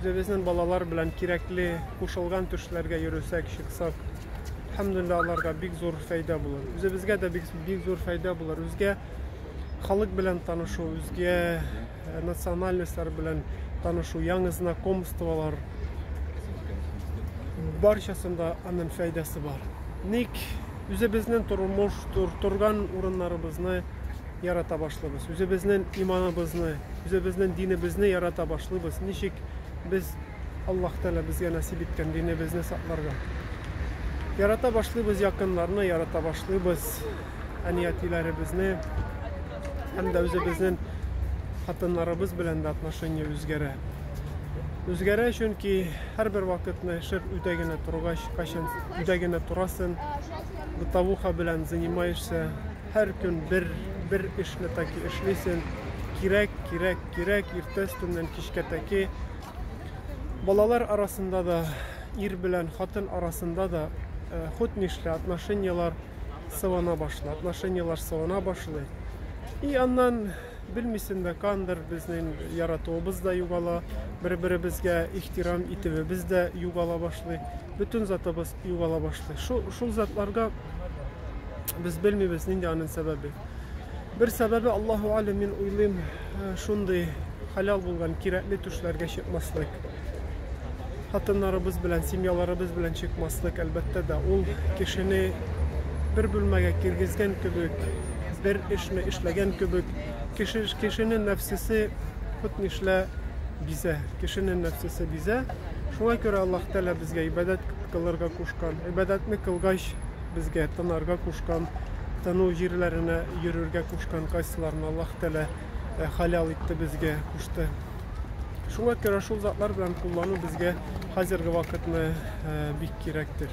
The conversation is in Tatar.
Үзебезнең балалар белән кирәкле кушылган төшләргә йөресәк, чыксак, әлхәмдүлилләһ, аларга бик зур фәйдә булыр. Үзебезгә дә бик, бик зур фәйдә булыр. Үзгә халык белән танышу, үзгә э, национальностьлар белән танышу, яңы знакомстволар, барчасында аның фәйдәсе бар. Ник үзебезнең тормыш, тур, торган урыннарыбызны ярата башлыйбыз, үзебезнен иманыбызны, үзебезнен динебезне ярата башлыйбыз. Ничек без Аллаһ Тәгалә безгә насип иткән динебезне сакларга? Ярата башлыйбыз якыннарны, ярата башлыйбыз әниятиләребезне һәм дә үзебезнен хатыннарыбыз белән дә отношение үзгәрә. Үзгәрә, чөнки һәрбер вакытны шыр үтә генә торгач, кайчан үтә генә торасын, бытовуха белән занимаешься, Һәр көн бер, бер эшне таки эшлисен. Кирәк, кирәк, кирәк, иртә өстеннән кичкә таки. Балалар арасында да, ир белән хатын арасында да э, хут нишлә отношениялар сывана башлый, отношениялар сывана башлый. И аннан Белмисең дә, кандыр безнең яратуыбыз да югала, бер-беребезгә ихтирам итүебез дә югала башлый, бөтен затыбыз югала башлый. Шул, шул затларга без белмибез нинди анын сәбәбе. Бер сәбәбе Аллаһу алим, мин уйлыйм, э, шундый хәлал булган кирәкле төшләргә чыкмаслык. хатыннарыбыз белән, семьяларыбыз белән чыкмаслык, әлбәттә дә, ул кешене бер бүлмәгә кергезгән кебек, бер эшне эшләгән кебек, кеше, кешенең нәфсесе хут нишлә бизә, кешенең нәфсесе бизә. Шуңа күрә Аллаһ Тәгалә безгә ибадәт кылырга кушкан. Ибадәтне кылгач, безгә тынарга кушкан, тыну җирләренә йөрергә кушкан, кайсыларын Аллаһ Тәгалә э, халал итте безгә, кушты. Шуңа күрә шул затлар белән куллану безгә хәзерге вакытны бик кирәктер.